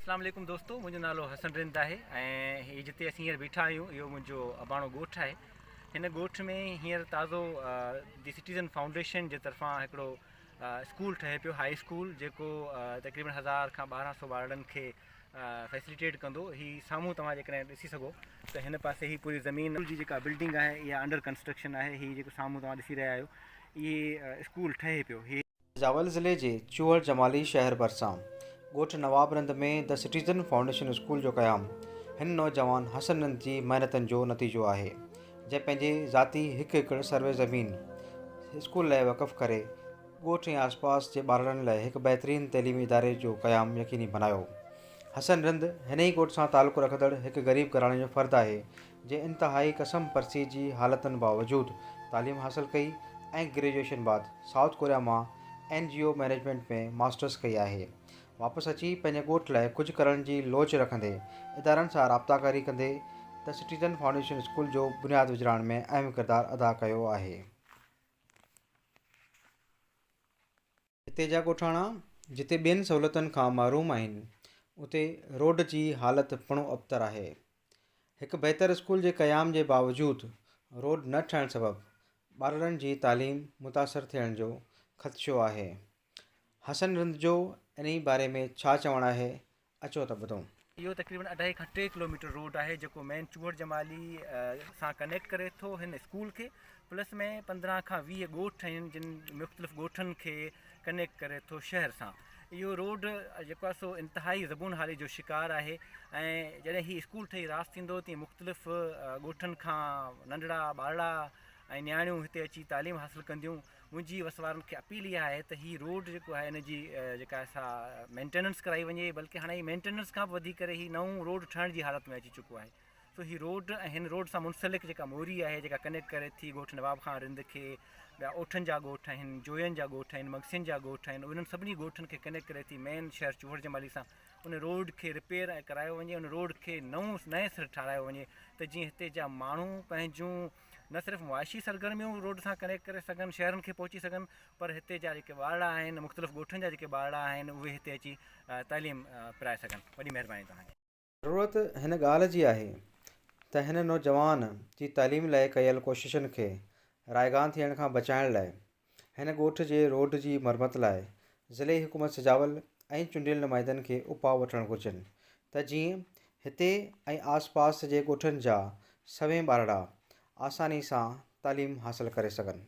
اسلام عليڪم دوستو منهنجو نالو حسن رند آهي ۽ هي جتي اسين هينئر بيٺا آهيون اهو منهنجو اباڻو ڳوٺ آهي هن ڳوٺ ۾ هينئر تازو دي سٽيزن فائونڊيشن جي طرفان هڪڙو اسڪول ٺهي پيو هاء اسڪول جيڪو تقريبن هزار کان ٻارهن سو ٻارڙن کي فيسليٽيٽ ڪندو هي سامهون توهان جيڪڏهن ڏسي سگهو ته هن پاسي هي پوري زمين جي جيڪا بلڊنگ آهي اها انڊر ڪنسٽرڪشن آهي هي جيڪو سامهون توهان ڏسي رهيا آهيو اهي اسڪول ٺهي پيو هي زابل ضلعي جي چوهر جمالي شهر ڀرسان ڳوٺ Nawab Rind ۾ The Citizen Foundation school جو قيام هن نوجوان حسن رند جي محنتن جو نتيجو آهي جنهن پنهنجي ذاتي هڪ ايڪڙ سروي زمين اسڪول لاء وقف ڪري ڳوٺ ۽ آسپاس جي ٻارڙن لاء هڪ بهترين تعليمي اداري جو قيام يقيني بنايو حسن رند هن ئي ڳوٺ سان تعلق رکندڙ هڪ غريب گهراڻي جو فرد آهي جنهن انتهائي ڪسم پرسي جي حالتن باوجود تعليم حاصل ڪئي ۽ گريجوئيشن بعد سائوٿ ڪوريا مان N G O management ۾ masters ڪئي آهي. واپس اچي پنهنجي ڳوٺ لاء ڪجهه ڪرڻ جي لوچ رکندي ادارن سان رابطاڪاري ڪندي The Citizen Foundation اسڪول جو بنياد وجهرائڻ ۾ اهم ڪردار ادا ڪيو آهي. هتي جا ڳوٺاڻا جتي ٻين سهولتن کان محروم آهن اتي روڊ جي حالت پڻو ابتر آهي. هڪ بهتر اسڪول جي قيام جي باوجود روڊ نه ٺهڻ سبب ٻارڙن جي تعليم متاثر ٿيڻ جو خدشو آهي. حسن رند جو انهي باري ۾ ڇا چوڻ آهي اچو ته ٻڌون. اهو تقريبن اڍائي کان ٽي ڪلوميٽر روڊ آهي جيڪو مين چوهڙ جمالي سان ڪنيڪٽ ڪري ٿو هن اسڪول کي پلس ۾ پندرهن کان ويهه ڳوٺ آهن جن مختلف ڳوٺن کي ڪنيڪٽ ڪري ٿو شهر سان اهو روڊ جيڪو آهي سو انتهائي زبون حالي جو شڪار آهي ۽ جڏهن هي اسڪول ٺهي راس ٿيندو تي مختلف ڳوٺن کان ننڍڙا ٻارڙا ۽ نياڻيون هتي اچي تعليم حاصل ڪنديون منهنجي وس وارن کي اپيل اها آهي ته هي روڊ جيڪو آهي ان جي جيڪا آهي سا مينٽيننس ڪرائي وڃي بلڪه هاڻي هي مينٽيننس کان به وڌي ڪري هي نئون روڊ ٺهڻ جي حالت ۾ اچي چڪو آهي سو هي روڊ ۽ هن روڊ سان منسلڪ جيڪا موري آهي جيڪا ڪنيڪٽ ڪري ٿي ڳوٺ نواب خان رند کي ٻيا اوٺن جا ڳوٺ آهن جوين جا ڳوٺ آهن مگسين جا ڳوٺ آهن انهن سڀني ڳوٺن کي ڪنيڪٽ ڪري ٿي مين شهر چوهر جمالي سان ان روڊ کي رپيئر ۽ ڪرايو وڃي ان روڊ کي نئون نئين سر ٺارايو وڃي ته جيئن هتي جا ماڻهو پنهنجون نه صرف معاشي سرگرميون روڊ سان ڪنيڪٽ ڪري سگهن شهرن کي پهچي سگهن پر هتي جا جيڪي ٻارڙا آهن مختلف ڳوٺن جا جيڪي ٻارڙا آهن اهي هتي اچي تعليم پرائي سگهن وڏي مهرباني توهان جي. ضرورت هن ڳالهه جي آهي ته هن نوجوان جي تعليم لاء ڪيل ڪوششن کي رائگان ٿيڻ کان بچائڻ لاء هن ڳوٺ جي روڊ جي مرمت لاء ضلعي حڪومت سجاول ۽ چونڊيل نمائندن کي اپاء وٺڻ گهرجن ته جيئن هتي ۽ آس پاس جي ڳوٺن جا سوين ٻارڙا آساني سان تعليم حاصل ڪري سگهن.